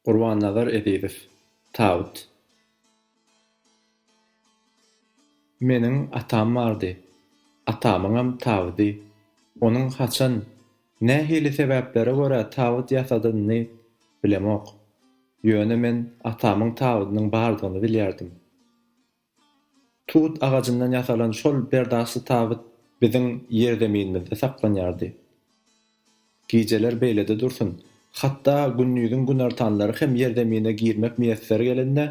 Gurbannazar Ezizow, Tabut. Meniň atam bardy. Atamyňam tabydy. Onuň haçan, nähili sebäplere görä tabyt ýasadynyny bilemok. Ýöne men atamyň tabydynyň bardygyny bilýärdim. Tut agajyndan ýasalan şol berdagşy tabyt biziň ýerzeminimizde saklanýardy. Gijeler beýlede dursun, hatda gündiziň günortanlary hem ýerzemine girmek miýesser gelende,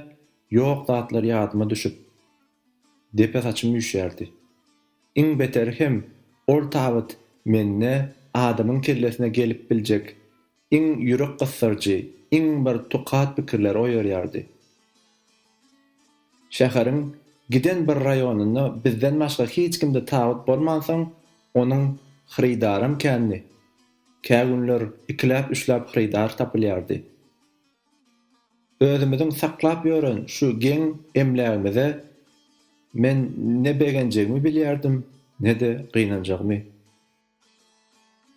ýok zatlar ýadyma düşüp, depe saçym üýşýärdi. Iň beteri hem, ol tabyt mende adamyň kellesine gelip biljek Iň ýürek gysdyryjy, iň bir tukat pikirleri oýarýardy. Şäheriň giden bir raýonynda bizden başga hiç kimde tabyt bolmansoň, onuň hyrydaram kändi. Kä günler ikiläp-üçläp hyrydar tapylýardy. Özümiziň saklap ýören şu geň emlägimize men ne begenjegimi bilýärdim, ne-de gynanjagymy.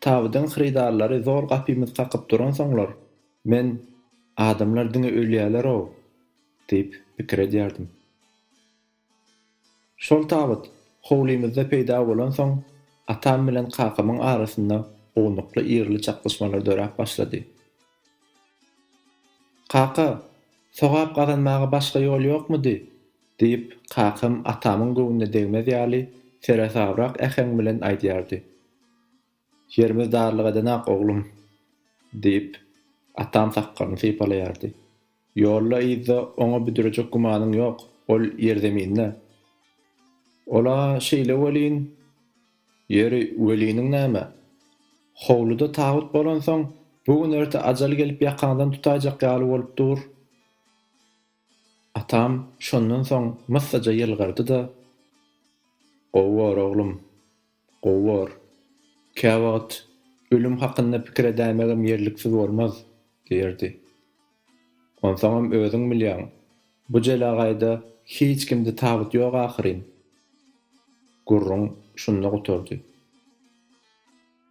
Tabydyň hyrydarlary zor gapymyzy kakyp duransoňlar, men, Adamlar diňe ölýärler-ow! diýip, pikir edýärdim. Şol tabyt howlymyzda peýda bolansoň, atam bilen kakamyň arasynda ownukly ýerli çaknyşmalar döräp başlady. Kaka, sogap gazanmaga başga ýol ýokmudy? Diýip, kakam atamyň göwnüne degmez ýaly, seresabrak äheň bilen aýdýardy. Ýerimiz darlyk edenak, oglum! diýip, atam sakgalyny sypalaýardy. Ýolda-yzda oňa büdrejek gümanyň ýok, ol ýerzeminde. Ol-a şeýle welin, ýeri, weliniň näme? Howluda tabyt bolansoň, bu gün-erte ajal gelip ýakaňdan tutaýjak ýaly bolup dur. Atam şondan soň myssaja ýylgyrdy-da, Gowy bor, oglum, gowy bor. Käwagt ölüm hakynda pikir edäýmegem ýerliksiz bolmaz, diýerdi. Onsoňam özüň bilýäň, bu jelegaýda hiç kimde tabyt ýok ahyryn. Gürrüň şunda gutardy.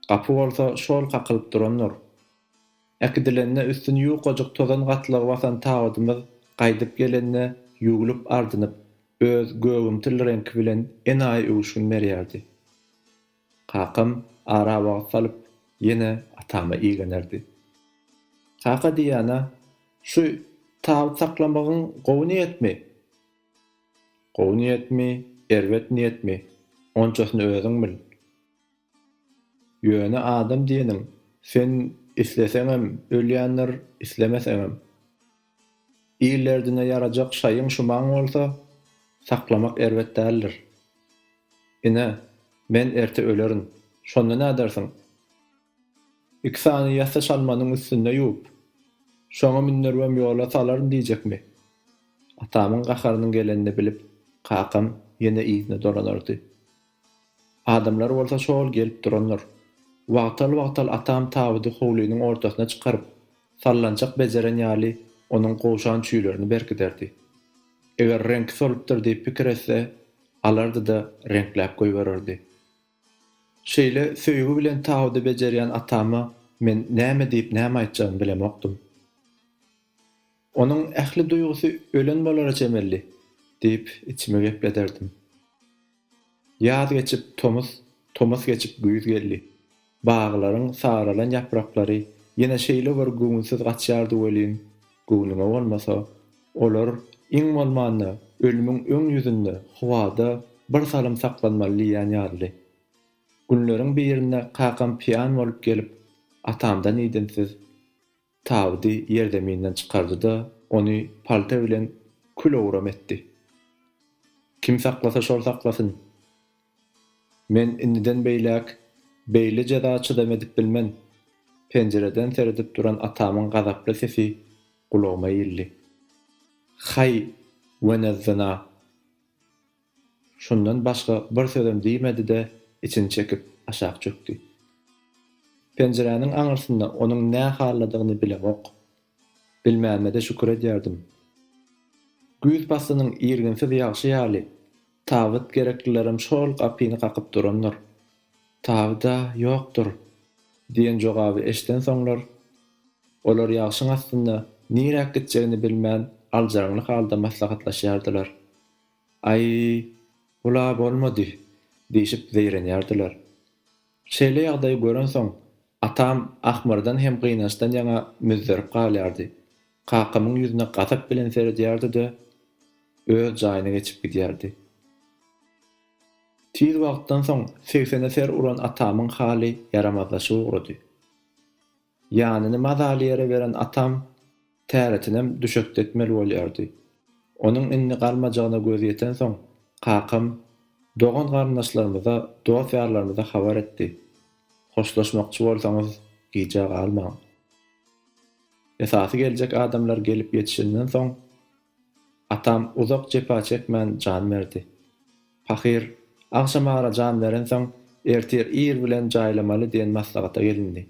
Gapy bolsa şol kakylyp durandyr. Äkidilende üstüni ýukajyk tozan gatlagy basan tabydymyz gaýdyp gelende ýuwlup ardynyp, öz gögümtil reňki bilen enaýy öwüşgin berýärdi. Kakam ara wagt salyp ýene atama iglenerdi. Kaka diýýän-ä, şu tabyt saklamagyň gowy niýetmi? Gowy niýetmi, erbet niýetmi, onçasyny özüň bil. Ýöne adam diýeniň sen isleseňem ölýändir, islemeseňem. Il derdine ýarajak şaýyň şumaň bolsa, saklamak erbet däldir. Ine, men erte ölerin. Şonda nädersiň? Iki sany ýassa çalmanyň üstünde ýuwup, şoňa mündüribem ýola salaryn diýjekmi? Atamyň gaharynyň gelenini bilip, kakam ýene yzyna dolanardy. Adamlar bolsa şo-ol gelip durandyr. Wagtal-wagtal atam tabydy howlynyň ortasyna çykaryp, sallançak bejeren ýaly onuň gowşan çüýlerini berkiderdi. Eger reňki solupdyr diýip pikir etse, alardy-da reňkläp goýbererdi. Şeýle söýgi bilen tabydy bejerýän atama men näme diýip näme aýtjagymy bilemokdym. Onuň ähli duýgusy ölen bolara çemeli diýip içimi geplederdim. Ýaz geçip tomus, tomus geçip güýz geldi. Baglaryň saralan ýapraklary ýene şeýle bir göwünsiz gaçýardy welin, göwnüňe bolmasa, olar, iň bolmanda, ölümiň öň ýüzünde, howada bir salym saklanmaly diýýän ýalydy. Günleriň birinde kakam piýan bolup gelip, atamdan idinsiz. Tabydy ýerzeminden çykardy-da, ony palta bilen kül-owram etdi. Kim saklasa şol saklasyn. Men indiden beýläk beýle jeza çydam edip bilmen. Penjireden seredip duran atamyň gazaply sesi gulagyma ildi. Haý, wenezzyna! Şundan başga bir sözem diýmedi-de, içini çekip, aşak çökdi. Penjiräniň aňyrsynda onuň nä halladygyny bilemok. Bilmänime-de şükür edýärdim. Güýz paslynyň irginsiz ýagşy ýaly, tabyt gereklilerem şo-ol gapyny kakyp durandyr. Tabyt-a ýokdur! diýen jogaby eşidensoňlar, olar ýagşyň astynda niräk gitjegini bilmän aljyraňly halda maslahatlaşýardylar. Aý, bul-a bolmady! diýşip zeýrenýärdiler. Şeýle ýagdaýy görensoň, atam ahmyrdan hem gynançdan ýaňa müzzerip galýardy. Kakamyň ýüzüne gazap bilen seredýärdi-de, öz jaýyna geçip gidýärdi. Tiz wagtdan soň segsene ser uran atamyň haly ýaramazlaşyp ugrady. Ýanyny mazaly ýere beren atam täretinem düşekde etmeli bolýardy. Onuň indi galmajagyna gözi ýetensoň, kakam dogan-garyndaşlarymyza, dost-ýarlarymyza habar etdi, Hoşlaşmakçy bolsaňyz, gijä galmaň. Esasy geljek adamlar gelip ýetişenden soň, Atam uzak jepa çekmän jan berdi. Pahyr, agşamara jan berensoň, ertir ir bilen jaýlamaly diýen maslahata gelindi.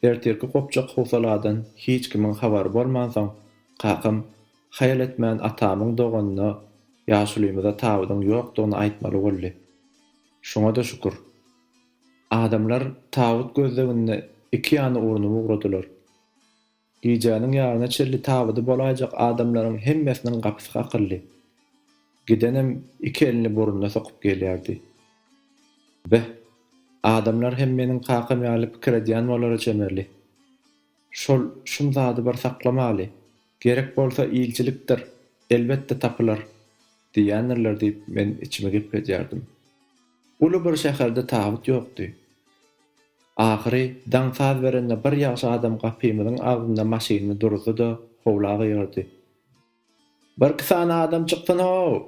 Ertirki gopjak howsaladan hiç kimiň habary bolmansoň, kakam haýal etmän atamyň doganyna ýaşulymyza tabydyň ýokdugyny aýtmaly boldy. Şuňa-da şükür. Adamlar tabyt gözleginde iki ýany urnup ugradylar. Gijäniň ýaryna çenli tabydy bolaýjak adamlaryň hemmesiniň gapysy kakyldy. Gidenem iki elini burnuna sokup gelýärdi. Beh, adamlar hem meniň kakam ýaly pikir edýän bolara çemeli. Şol şum zady bir saklamaly, gerek bolsa ilçilikdir, elbetde tapylar diýýändirler diýip men içimi gepledýärdim. Uly bir şäherde tabyt ýokdy. Ahyry, daň saz berende bir ýagşy adam gapymyzyň agzynda maşynyny duruzdy-da, howla gygyrdy. Birki sany adam çyksyn-how!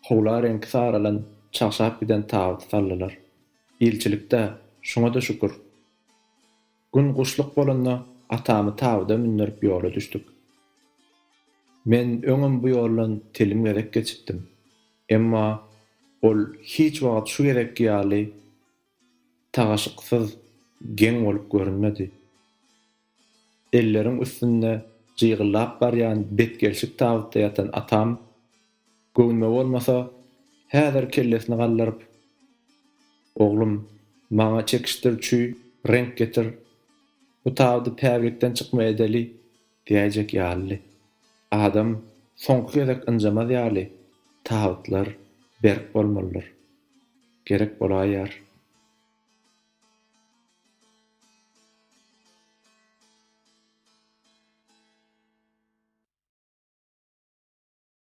Howla reňki saralan, çagşap giden tabyty saldylar. Ilçilik-dä, şuňa-da şükür. Gün guşluk bolanda atamy tabyda mündürip ýola düşdük. Men öňem bu ýoldan telim gezek geçipdim. Emma ol hiç wagt şu gezekki ýaly tagaşyksyz geň bolup görünmedi. Elleriň üstünde jygyllap barýan betgelşik tabytda ýatan atam. Göwnüme bolmasa, häzir kellesini galdyryp, Oglum, maňa çekişdiriçi reňk getir, bu tabydy päglikden çykma edeli diýäýjek ýalydy. Adam soňky gezek ynjamaz ýaly, tabytlar berk bolmalydyr. Gerek bolaýýar.